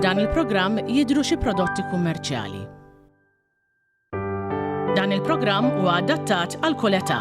F'dan il-programm jidhru xi prodotti kummerċjali. Dan il-programm huwa adattat għal kull età.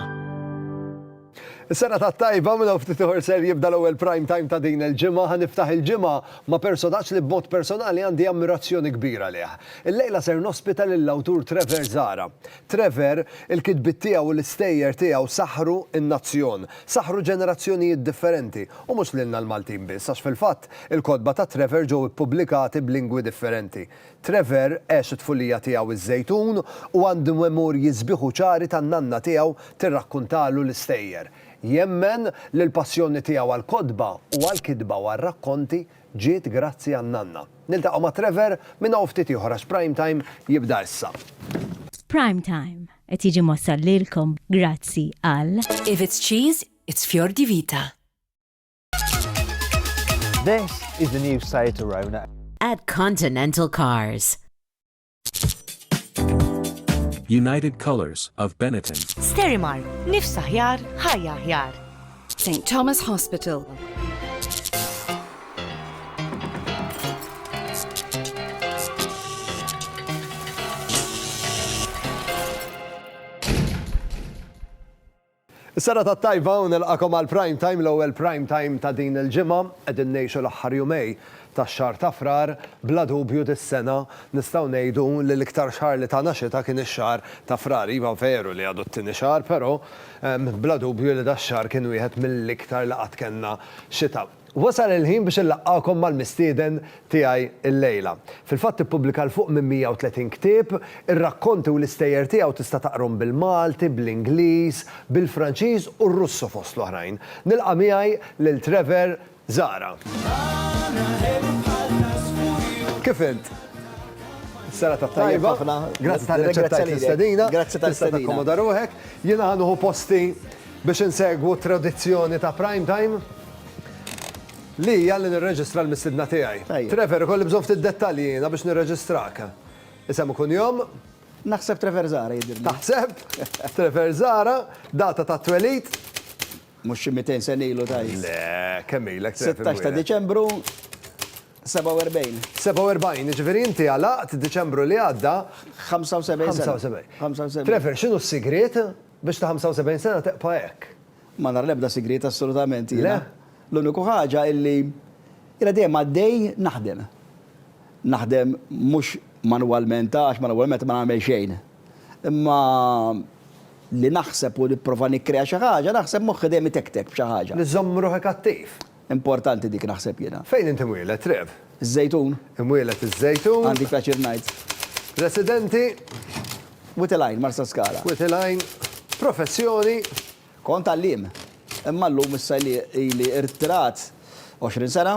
Is-sena ta' tajba minn ftit ieħor ser jibda l-ewwel prime time ta' din il-ġimgħa ħa niftaħ il-ġimgħa ma' personaġġ li b'mod personali għandi ammirazzjoni kbira lih. Il-lejla ser nospita lill-awtur Trevor Zara. Trevor, il-kitbiet tiegħu u l-istejjer tiegħu saħħru n-nazzjon, saħħru ġenerazzjonijiet differenti, u mhux lilna l-Maltin biss, għax fil-fatt, il-kotba ta' Trevor ġew ippubblikati b'lingwi differenti. Trevor għex it-tfulija tiegħu iż-Żejtun u għandu memorji sbieħ u ċari tan-nanna tiegħu tirrakkuntalu l-istejjer. Jemmen li l-passjoni tiegħu għall-kotba u għall-kitba u għar-rakkonti Ġiet grazzi għan-nanna. Niltaqgħu ma' Trevor minn hawn ftit ieħor għax Prime Time jibda issa. Prime Time qed jiġi mwassal lilkom grazzi għal. If it's cheese, it's Fior di Vita. This is the new Seat Arona. At Continental Cars. United Colors of Benetton. Sterimar, nifs aħjar, ħajja aħjar. St. Thomas Hospital. Is-serata t-tajba u nilqagħkom għal Prime Time, l-ewwel Prime Time ta' din il-ġimgħa. Qegħdin ngħixu l-aħħar jumej tax-xahar ta' Frar. Bla dubju dis-sena nistgħu ngħidu li l-iktar xahar li tana xita kien ix-xahar ta' Frar. Iva veru li għadu t-tieni xahar, però bla dubju li dax-xahar kien wieħed mill-iktar li qatt kellna xita. Wasal il-ħin biex inlaqqagħkom mal-mistieden tiegħi llejla. Fil-fatt ippubblika 'l fuq minn 130 ktieb, ir-rakkonti u l-istejjer tiegħu tista' taqrhom bil-Malti, bl-Ingliż, bil-Franċiż u r-Russu fost l-oħrajn. Nilqa' miegħi lil Trevor Zahra. Kif int? Serata tajba. Grazzi tal-li aċċettajt l-istedina. Tista' takkomoda ruħek. Jiena ħa nieħu posti Biex insegwu t-tradizzjoni ta' Prime Time, li hija li nirreġistra l-mistiedna tiegħi. Trevor, ikolli bżonn ftit dettalji jiena biex nirreġistrak. Isem u kunjom? Naħseb Trevor Zahra jidhirli. Taħseb? Trevor Zahra, data tat-twelid? Mhux xi mitejn sena ilu tgħid? Le, kemm ilek Trevor? Sittax ta' Diċembru, 47. 47, jiġifieri inti għalaqt Diċembru li għadda. 75 sena. 75. Trevor, x'inhu s-sigriet? Biex ta' 75 sena teqpa' hekk. Ma nara l-ebda sigriet assolutament jiena. Le? L-uniku ħaġa illi jiena dejjem għaddej naħdem. Naħdem mhux manwalment għax manwalment ma nagħmel xejn. Imma li naħseb u nipprova nikkrea xi ħaġa naħseb moħħi dejjem itektek b'xi ħaġa. Li żżomm ruħek attiv. Importanti dik naħseb jiena. Fejn int imwieled, Trev? Iż-Żejtun. Imwieled iż-Żejtun. Għandi l-pjaċir ngħid. Residenti? Wied il-Għajn, Marsaskala. Wied il-Għajn. Professjoni? Kont għalliem. Imma llum issa li ili irtirat 20 sena.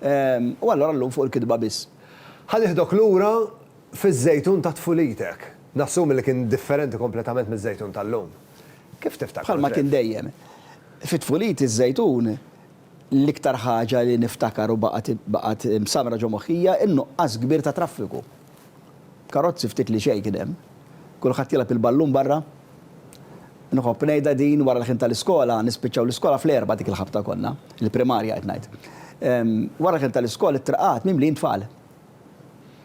U allura llum fuq il-kitba biss. Ħa nieħdok lura fiż-Żejtun ta' tfulitek. Nassumi li kien differenti kompletament miż-Żejtun tal-lum. Kif tiftakru, Trev? Bħalma kien dejjem. Fi tfuliti ż-Żejtun, l-iktar ħaġa li niftakar u baqgħet msammra ġo moħħi hija n-nuqqas kbir ta' traffiku. Karozzi ftit li xejn kien hemm. Kulħadd jilgħab il-ballun barra. Nħobb ngħidha din wara l-ħin tal-iskola, nispiċċaw l-iskola fl-erbgħa dik il-ħabta konna, il-primarja qed ngħid. Wara l-ħin tal-iskola t-triqat mimlijin tfal.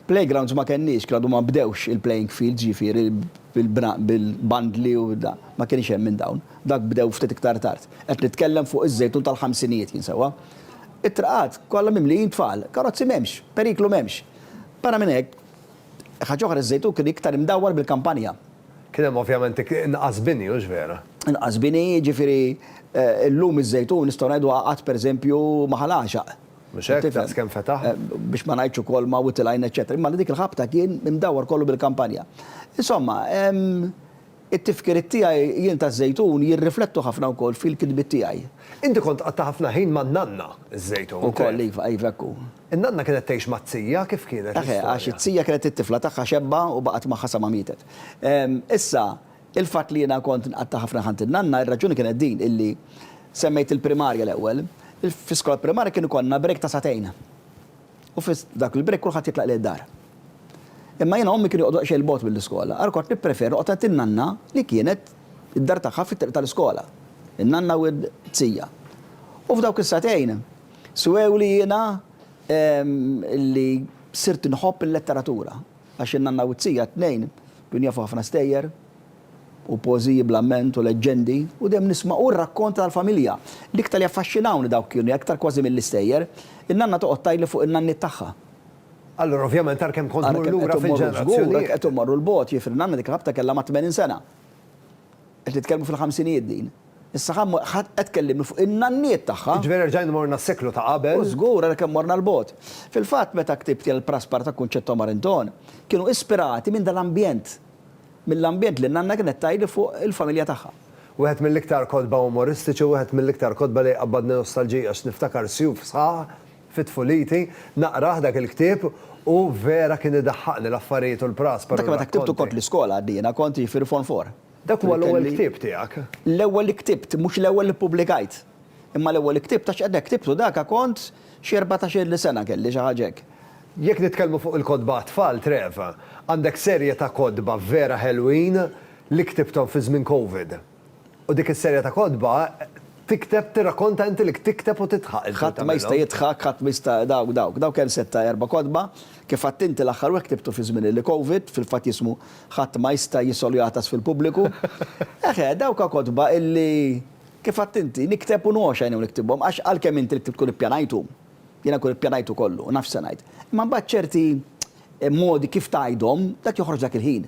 Playgrounds ma kenniex, kien għadu ma nbdewx il-playing fields jiġifieri bil-bandli u da, ma kienx hemm minn dawn. Dak bdew ftit iktar tard. Qed nitkellem fuq iż-Żejtun tal-ħamsinijiet jien sewwa. It-traqat kollha mimlijin tfal, karozzi m'hemmx, periklu m'hemmx. Barra minn hekk, ħaġa oħra iż-Żejtun kien iktar imdawwar bil-kampanja. Kien hemm ovvjament inqas bini, hux vera? Inqas bini, jiġifieri llum iż-Żejtun nistgħu ngħidu għaqad pereżempju ma' Ħal Għaxaq. Mhux hekk? Tifhem? Daqs kemm fetaħ. Eh, biex ma ngħidx ukoll ma witty line eċċetera. Imma li dik il-ħabta kien imdawwar kollu bil-kampanja. Insomma, ehm, it-tifkiriet tiegħi jien taż-Żejtun jirriflettu ħafna wkoll fil-kitbiet tiegħi. Inti kont qatta' ħafna ħin man-nanna ż-Żejtun. Ukoll iva, iva hekk hu. In-nanna kienet tgħix mat-tija kif kienet? Eħe, għax it-tija kienet it-tifla tagħha xebba u baqgħet magħha sa ma mietet. Ehm, issa, Il-fatt li jiena kont nqatta' ħafna ħanti n-nanna, ir-raġuni kienet din, illi semmejt il-primarja l-ewwel, fl-iskola primarja kien ikollna break ta' sagħtejn. U fi dak il-break kulħadd jitlaq lejn id-dar. Imma jiena ommi kienu joqogħdu daqsxejn 'l bogħod mill-iskola, għalhekk kont nippreferi noqgħod għand in-nanna li kienet id-dar tagħha fit-triq tal-iskola. In-nanna u t-tija. U f'dawk is-sagħtejn swewli jiena li sirt inħobb il-letteratura. Għax in-nanna u t-tija t-tnejn kienu jafu ħafna stejjer u poeżiji bl-amment u leġġendi u dejjem nisma' u r-rakkont tal-familja. L-iktar li affaxxinawni dawk kienu, aktar kważi mill-istejjer, in-nanna toqgħod tgħidli fuq in-nanniet tagħha. Allura ovvjament ara kemm kont tmur lura fil-ġenerazzjonijiet. Ara kemm qed immorru 'l bogħod, jiġifieri nanna dik il-ħabta kellha mat-tmenin sena. Qed nitkellmu fil-ħamsinijiet din. Issa ħa mmur, ħa qed tkellimni fuq in-nanniet tagħha! Jiġifieri erġajna morna s-seklu ta' qabel? U żgur, ara kemm morna 'l bogħod! Fil-fatt, meta ktibt jien l-Praspar ta' Kunċetto Marinton, kienu ispirati minn dal-ambjent, mill-ambjent li n-nanna kienet tgħidli fuq il-familja tagħha. Wieħed mill-iktar kotba umoristiċi, wieħed mill-iktar kotba li jqabbadni nostalġija għax niftakar sjuf sħaħ fi tfuliti, naqrah dak il-ktieb u vera kien idaħħaqni l-affarijiet u l-Praspar u r-rakkonti. Dak meta ktibtu kont l-iskola għad jiena kont jiġifieri Form Four. Dak huwa l-ewwel ktieb tiegħek? L-ewwel li ktibt, mhux l-ewwel li ppubblikajt. Imma l-ewwel li ktibt għax meta ktibtu dak kont xi erbatax-il sena kelli, xi ħaġa hekk. Jekk nitkellmu fuq il-kotba għat-tfal, Trev, għandek serje ta' kotba vera ħelwin li ktibthom fi żmien Covid. U dik is-serje ta' kotba tikteb tirrakkonta inti li tikteb u tidħaq inti u tagħmilhom. Ħadd ma jista' jidħaq, ħadd ma jista' dawk, dawk. Dawk hemm setta' erba' kotba. Kif għadt inti l-aħħar wieħed ktibtu fi żmien il-Covid, fil-fatt jismu Ħadd ma jista' jisol jagħtas fil-pubbliku. Eħe, dawka kotba illi, kif għadt inti, nikteb u ngħoxx għajnejn niktibhom għax għalkemm inti l-ktieb tkun ippjanajthom, jiena nkun ippjanajtu kollu u naf x'se ngħid, imma mbagħad ċerti modi kif tgħidhom, dak joħroġ dak il-ħin.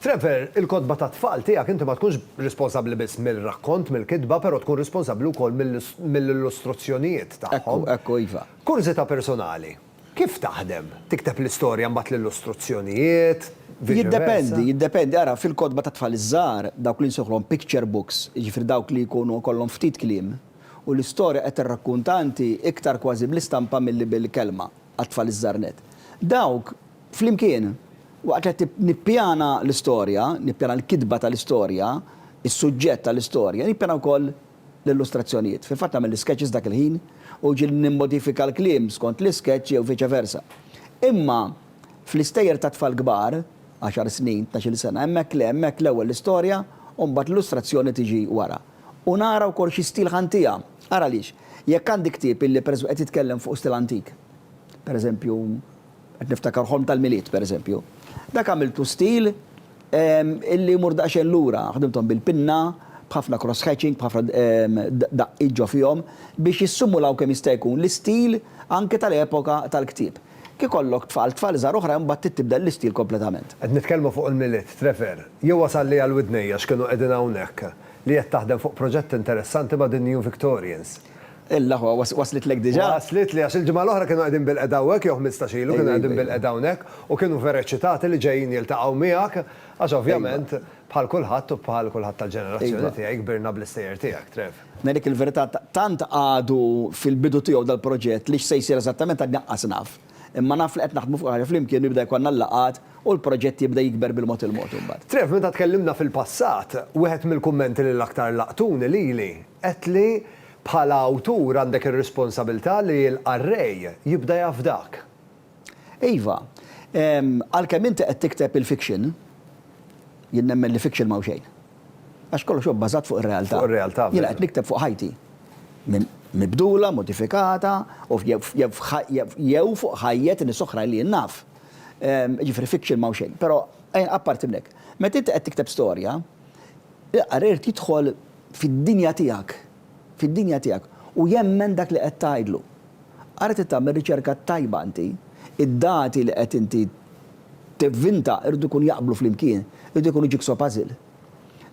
Trevor, il-kotba tat-tfal tiegħek inti ma tkunx responsabbli biss mill-rakkont, mill-kitba, però tkun responsabbli wkoll mill-illustruzzjonijiet tagħhom. Ekku, ekku, iva. Kurżità personali, kif taħdem? Tikteb l-istorja mbagħad l-illustruzzjonijiet, viċi versa? Jiddependi, jiddependi. Ara, fil-kotba tat-tfal iż-żgħar, dawk li nsejħulhom picture books, jiġifieri dawk li jkunu jkollhom ftit kliem, u l-istorja qed tirrakkunta inti iktar kważi bl-istampa milli bil-kelma, għat-tfal iż-żgħar nett. Dawk, Flimkien, waqt li qed nippjana l-istorja, nippjana l-kitba tal-istorja, is-suġġett tal-istorja, nippjana wkoll l-illustrazzjonijiet. Fil-fatt nagħmel l-iskeċċis dak il-ħin u jiġieli nimmodifika l-kliem skont l-iskeċċ jew viċe versa. Imma fl-istejjer tat-tfal kbar, għaxar snin, tnax-il sena, hemmhekk le, hemmhekk l-ewwel l-istorja u mbagħad l-illustrazzjoni tiġi wara. U nara wkoll xi stil ħa ntiha. Ara għaliex, jekk għandi ktieb illi pereżempju qed jitkellem fuq stil antik, pereżempju, Qed niftakar ħolm tal-Milied, pereżempju. Dak għamiltu stil illi jmur daqsxejn lura, ħdimthom bil-pinna, b'ħafna cross hatching, b'ħafna daqqiet ġo fihom, biex jissimulaw kemm jista' jkun l-istil anke tal-epoka tal-ktieb. Kif ikollok tfal, tfal żgħar oħra imbagħad trid tibdel l-istil kompletament. Qed nitkellmu fuq il-Milied, Trevor. Jien wasal li għal widnejja x'kienu qegħdin hawnhekk, li qed taħdem fuq proġett interessanti ma' The New Victorians. Illa hu, waslitlek diġà? Waslitli, għax il-ġimgħa l-oħra kienu qegħdin bilqiegħda hawnhekk, jew ħmistax ilu kienu qegħdin bilqiegħda hawnhekk, u kienu vera eċċitati li ġejjin jiltaqgħu miegħek, għax ovvjament, bħal kulħadd u bħal kulħadd tal-ġenerazzjoni tiegħi, kbirna bl-istejjer tiegħek, Trev. Ngħidlek il-verità, tant għadu fil-bidu tiegħu dal-proġett li x'se jsir eżattament għadni anqas naf. Imma naf li qed naħdmu fuq xi ħaġa flimkien u jibda jkollna l-laqgħat u l-proġett jibda jikber bil-mod il-mod imbagħad. Trev, meta tkellimna fil-passat, wieħed mill-kummenti li l-aktar laqtuni lili, Għedt li, bħala awtur għandek ir-responsabilità li l-qarrej jibda jafdak. Iva. Għalkemm inti qed tikteb il-fiction, jien nemmen li fiction m'hawn xejn. Għax kollox huwa bbażat fuq ir-realtà. Fuq ir-realtà, veru. Jiena qed nikteb fuq ħajti. Mibdula, modifikata, u jew fuq ħajjet nies oħra li jien naf. Jiġifieri fiction m'hawn xejn. Però, apparti minn hekk, meta inti qed tikteb storja, Il-qari jrid jidħol fid-dinja tiegħek, fid-dinja tiegħek, u jemmen dak li qed tgħidlu. Ara trid tagħmel riċerka tajba inti, id-dati li qed inti tivvinta jridu jkunu jaqblu flimkien, jridu jkunu jigsaw puzzle.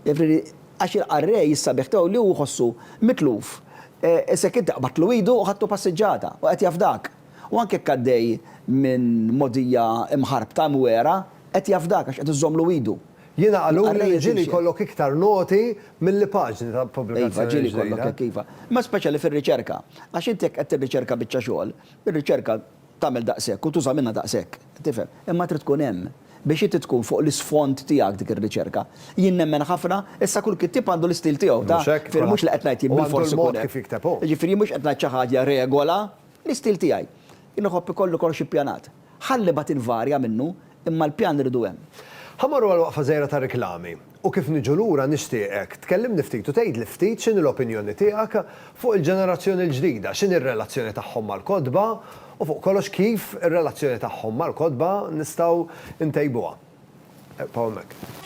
Jiġifieri għax il-qarrej is-sabiħ tiegħu li hu jħossu mitluf, issa jekk inti qbadtlu idu u ħadtu passiġġata u qed jafdak. U anke jekk għaddej minn mogħdija mħarbta, imwiegħra, qed jafdak għax qed iżżommlu idu. Jiena qaluli li ġieli jkollok iktar noti milli paġni ta' pubblikazzjoni ġdida. Iva, ġieli jkollok hekk, iva. Imma speċjali fir-riċerka. Għax inti jekk qed tirriċerka biċċa xogħol, ir-riċerka tagħmel daqshekk u tuża minnha daqshekk. Tifhem? Imma trid tkun hemm biex inti tkun fuq l-isfond tiegħek dik ir-riċerka. Jien nemmen ħafna, issa kull kittieb għandu l-istil tiegħu ta', ġifieri mhux li qed ngħid jien bilfors ikun hekk. Ġifieri jien mhux qed ngħid xi ħaġa regola, l-istil tiegħi. Jien iħobb ikolli kollox ippjanat. Ħalli mbagħad invarja minnu, imma l-pjan irridu hemm. Ħa mmorru għal waqfa żgħira ta' riklami, u kif niġu lura nixtieqek tkellimni ftit u tgħidli ftit x'inhi l-opinjoni tiegħek fuq il-ġenerazzjoni l-ġdida, x'inhi r-relazzjoni tagħhom mal-kotba, u fuq kollox kif ir-relazzjoni tagħhom mal-kotba nistgħu ntejbuha. Ebqgħu hemmhekk.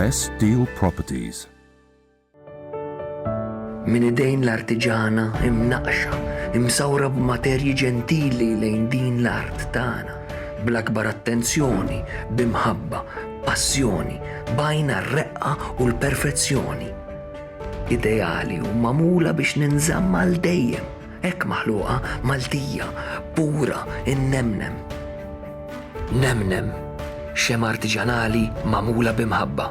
Best Deal Properties. Min idejn l-artiġana imnaqxa, imsawra b'materji ġentili lejn din l-art tagħna, bl-akbar attenzjoni, b'imħabba, Passjoni, b'għajn għar-reqqa u l-perfezzjoni. Ideali u magħmula biex ninżamm għal dejjem, hekk maħluqa, Maltija, pura, innemnem. Nemnem, xemgħa artiġanali magħmula b'imħabba.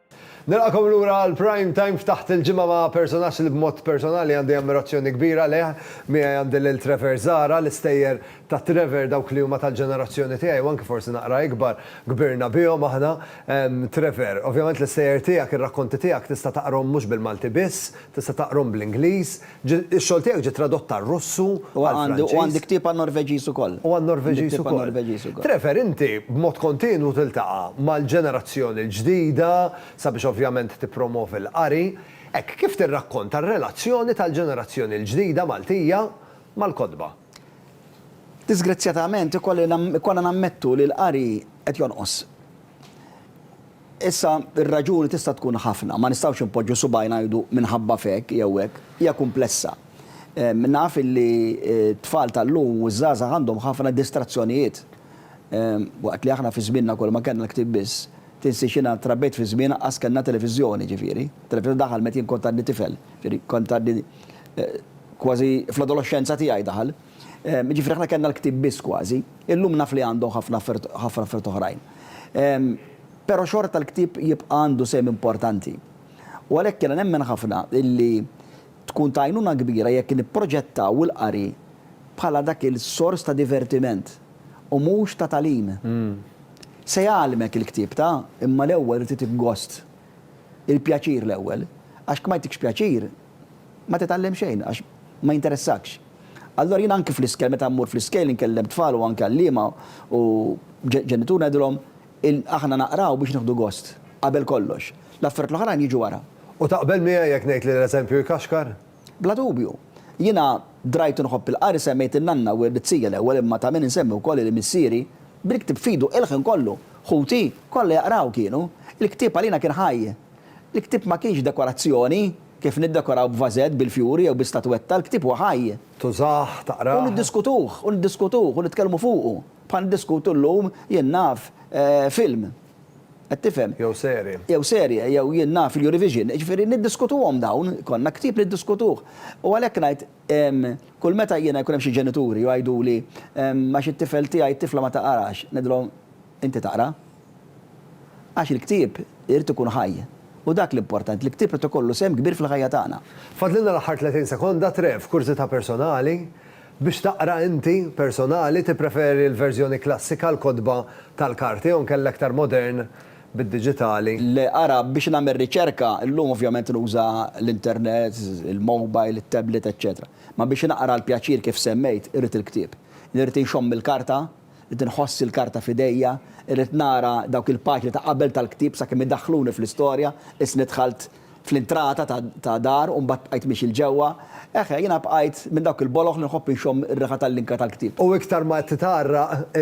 Nilqakom lura għal Prime Time f'Taħt il-Ġimgħa ma' personaġġ li b'mod personali għandi ammirazzjoni kbira lejh. Miegħi għandi lil Trevor Zahra, l-istejjer ta' Trevor dawk li huma tal-ġenerazzjoni tiegħi u anki forsi naqra ikbar, kbirna bihom aħna. Trevor, ovvjament l-istejjer tiegħek, ir-rakkonti tiegħek tista' taqrahom mhux bil-Malti biss, tista' taqrahom bl-Ingliż, Ix-xogħol tiegħek ġie tradott għar-Russu, għall-Franċiż. U għandi ktieb għan-Norveġiż ukoll. U għan-Norveġiż ukoll. Trevor, inti b'mod kontinwu tiltaqa' mal-ġenerazzjoni l-ġdida sabiex ovvjament tippromovi l-qari. Hekk, kif tirrakkonta r-relazzjoni tal-ġenerazzjoni l-ġdida Maltija mal-kotba? Diżgrazzjatament, ikollna nammettu li l-qari qed jonqos. Issa, ir-raġuni tista' tkun ħafna, ma nistgħux inpoġġu subgħajna ngħidu minħabba f'hekk jew hekk. Hija kumplessa. Naf illi t-tfal tal-lum u ż-żgħażagħ għandhom ħafna distrazzjonijiet. Waqt li aħna fi żmienna kulma kellna l-ktieb biss. Tinsiex jiena trabbejt fi żmien anqas kellna televiżjoni, ġifieri, it-televiżjoni daħal meta jien kont għadni tifel, ġifieri kont għadni kważi fl-adoloxxenza tiegħi daħal. Jiġifieri aħna kellna l-ktieb biss kważi. Illum naf li għandhom ħafna affarijiet oħrajn. Però xorta l-ktieb jibqa' għandu sehem importanti. U għalhekk jiena nemmen ħafna illi tkun ta' għajnuna kbira jekk nipproġettaw il-qari bħala dak il-sors ta' divertiment u mhux ta' tagħlim. Se jgħallmek il-ktieb ta', imma l-ewwel irid itik gost. Il-pjaċir l-ewwel. Għax jekk ma jtikx pjaċir, ma titgħallem xejn għax ma jinteressakx. Allura jien anki fl-iskejl meta mmur fl-iskejl inkellem tfal u anki għalliema u ġenitur ngħidilhom aħna naqraw biex nieħdu gost qabel kollox. L-affarijiet l-oħrajn jiġu wara. U taqbel miegħi jekk ngħid li l-eżempju jkaxkar? Bla dubju. Jiena drajt u nħobb il-qari semmejt in-nanna u it-tija l-ewwel imma ta' min insemmi wkoll li missieri bil-ktieb f'idu il-ħin kollu. Ħuti kollha jaqraw kienu. Il-ktieb għalina kien ħaj. Il-ktieb ma kienx dekorazzjoni, kif niddekoraw b'vażett, bil-fjuri jew bi statwetta, il-ktieb huwa ħaj. Tużah, taqrah. U niddiskutuh, u niddiskutuh, u nitkellmu fuqu, bħal niddiskutu llum, jien naf, film. Qed tifhem? Jew serje. Jew serje, jew jien naf il-Eurovision. Jiġifieri niddiskutuhom dawn, ikollna ktieb niddiskutuh. U għalhekk ngħid, kull meta jiena jkun hemm xi ġenituri u jgħiduli, għax it-tifel tiegħi, it-tifla ma taqrax, ngħidilhom, inti taqra? Għax il-ktieb irid ikun ħaj. U dak l-importanti, l-ktieb irid ikollu sehem kbir fil-ħajja tagħna. Fadlilna l-aħħar 30 sekonda, Trev, kurżità personali, biex taqra inti, personali, tippreferi l-verżjoni klassika, l-kotba tal-karti, jew inkella iktar modern bid-diġitali? Le, ara, biex nagħmel riċerka, illum ovvjament nuża l-internet, il-mobile, it-tablet, eċċetera. Imma biex naqra għall-pjaċir kif semmejt, irrid il-ktieb. Irrid inxomm il-karta, Irrid inħoss il-karta f'idejja, irrid nara dawk il-paġni ta' qabel tal-ktieb sakemm idaħħluni fl-istorja, issni dħalt fl-intrata ta' dar u mbagħad bqajt miexi 'l ġewwa. Eħe, jiena bqajt minn dawk il-boloh li nħobb inxomm ir-riħa tal-linka tal-ktieb. U iktar ma titgħarraq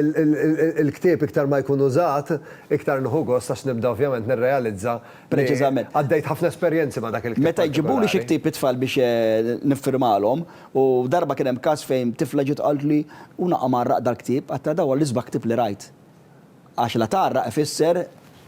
il-ktieb iktar ma jkun użat, iktar nieħu gost għax nibda ovvjament nirrealizza li għaddejt ħafna esperjenzi ma' dak il-ktieb partikolari. Meta jġibuli xi ktieb it-tfal biex niffirmalhom, U darba kien hemm każ fejn tifla ġiet qaltli, U naqa' mgħarraq dal-ktieb, għedtilha dan huwa l-isbaħ ktieb li rajt. Għax la tgħarraq ifisser,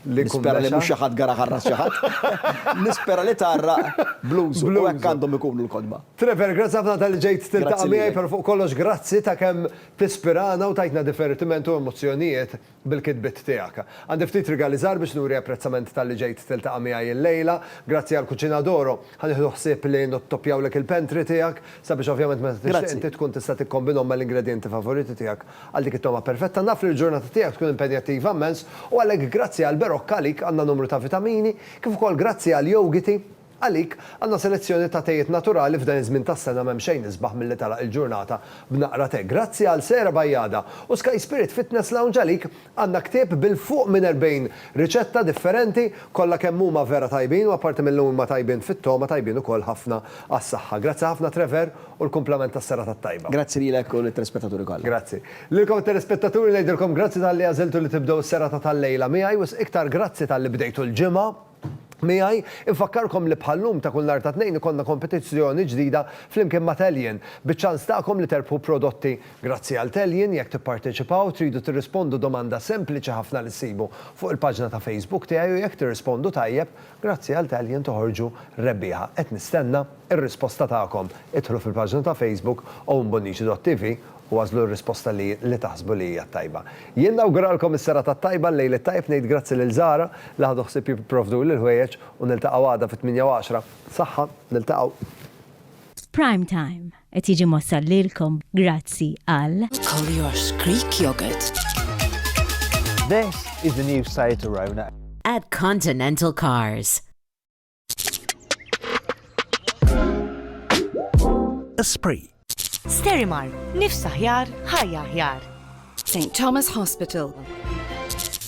nispera li mhux xi ħadd garaħ għal ras xi ħadd, nispera li tgħarraq bl-użu, u hekk għandhom ikunu l-kotba. Trevor, grazzi ħafna talli ġejt tiltaqa' miegħi, però fuq kollox grazzi ta' kemm tispirana u tgħidna divertiment u emozzjonijiet. bil-kitbiet tiegħek. Għandi ftit rigali żgħar biex nuri apprezzament talli ġejt tiltaqa' miegħi illejla. Grazzi għal Cucina d'Oro, ħa nieħdu ħsieb li nottoppjawlek il-pantry tiegħek, sabiex ovvjament meta tixtieq inti tkun tista' tikkombinhom mal-ingredjenti favoriti tiegħek għal dik it-togħma perfetta. Naf li l-ġurnata tiegħek tkun impenjattiva immens u għalhekk grazzi għall-Berocca għalik għandna numru ta' vitamini, kif ukoll grazzi għall-yogiti, Għalik, għandna selezzjoni ta' tejiet naturali f'dan iż-żmien tas-sena m'hemm xejn isbaħ milli tagħlaq il-ġurnata b'naqra te. Grazzi għal Sera Bajada u Sky Spirit Fitness Lounge għalik għandna ktieb bil-fuq minn 40 riċetta differenti, kollha kemm huma vera tajbin u apparti milli huma tajbin fit-togħma tajbin ukoll ħafna għas-saħħa. Grazzi ħafna Trevor u l-kumplament tas-serata t-tajba. Grazzi lilek u lit-telespettaturi kollha. Grazzi. Lilkom it-telespettaturi ngħidilkom grazzi talli għażiltu li tibdew is-serata tal-lejla miegħi, wisq iktar grazzi talli bdejtu l-ġimgħa. Miegħi, infakkarkom li bħal-lum ta' kull nhar ta' Tnejn ikollna kompetizzjoni ġdida flimkien ma' Tellion, biċ-ċans tagħkom li terbħu prodotti grazzi għal Tellion, jekk tipparteċipaw, tridu tirrispondu domanda sempliċi ħafna li ssibu fuq il-paġna ta' Facebook tiegħi u jekk tirrispondu tajjeb, grazzi għal Tellion toħorġu rebbieħa. Qed nistenna. Ir-risposta tagħkom. Idħlu fil-paġna ta' Facebook ownbonnici.tv u għażlu r-risposta li li taħsbu li hija t-tajba. Jien nawguralkom is-serata t-tajba, l-lejl it-tajb, ngħid grazzi lil Zahra li ħadu ħsieb jipprovduli l-ħwejjeġ u niltaqgħu għada fit-tmienja u għaxra. Saħħa, niltaqgħu. Prime Time qed jiġi mwassal lilkom grazzi għal. Collier's Greek Yogurt. This is the new site to Rona. At Continental Cars. Esprit. Sterimar, nifsa ħjar, ħajja ħjar. St. Thomas Hospital.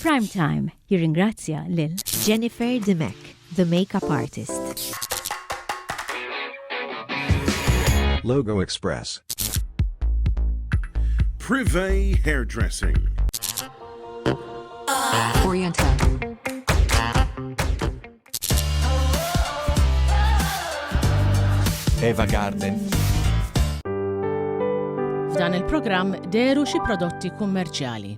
Prime Time jirringrazzja lil Jennifer Dimek, the makeup artist. Logo Express. Privé Hairdressing. Oriental. Eva Garden. F'dan il-programm deru xi prodotti kummerċjali.